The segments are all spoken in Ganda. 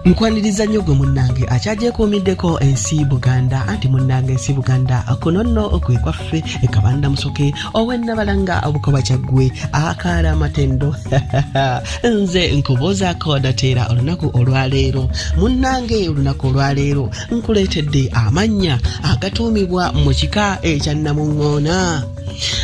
nkwaniriza nnyo gwe munnange akyagyekuumiddeko ensi buganda anti munnange ensi buganda kuno nno kwe kwaffe ekabanda musoke owennabalanga obukoba kyaggwe akaala amatendo nze nkubuuzaako dateera olunaku olwaleero munnange olunaku olwaleero nkuleetedde amannya agatuumibwa mu kika ekyannamuŋŋoona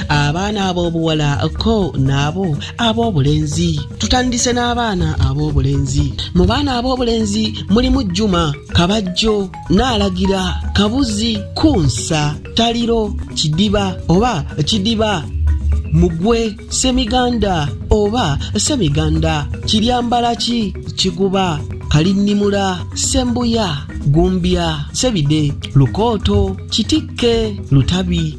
abaana ab'obuwala ko naabo ab'obulenzi tutandise n'abaana ab'obulenzi mu baana ab'obulenzi mulimu jjuma kabajjo naalagira kabuzi kunsa taliro kidiba oba kidiba mugwe semiganda oba semiganda kiryambalaki kiguba kalinnimula sembuya gumbya sebide lukooto kitikke lutabi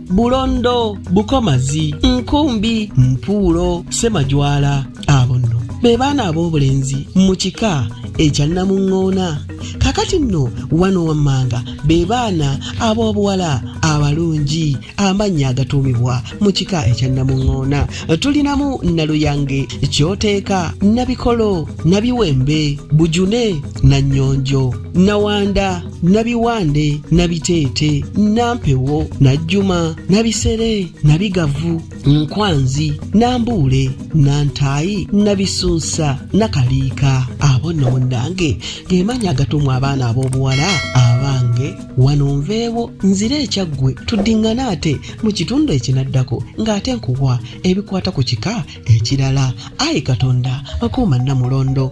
bulondo bukomazi nkumbi mpuulo semajwala abo nno be baana ab'obulenzi mu kika ekya namuŋŋoona kakati nno wano wammanga be baana ab'obuwala abalungi amannya agatuumibwa mu kika ekya namuŋŋoona tulinamu naluyange kyoteeka nabikolo nabiwembe bujune na nnyonjo nawanda nabiwande nabiteete nampewo najjuma nabisere nabigavu nkwanzi nambuule nantaayi nabisunsa nakaliika abo nno munnange gemanya agatumwa abaana ab'obuwala abange wano nveewo nzire ekyaggwe tuddiŋŋane ate mu kitundu ekinaddako ng'ate nkuwa ebikwata ku kika ekirala ayi katonda akuuma namulondo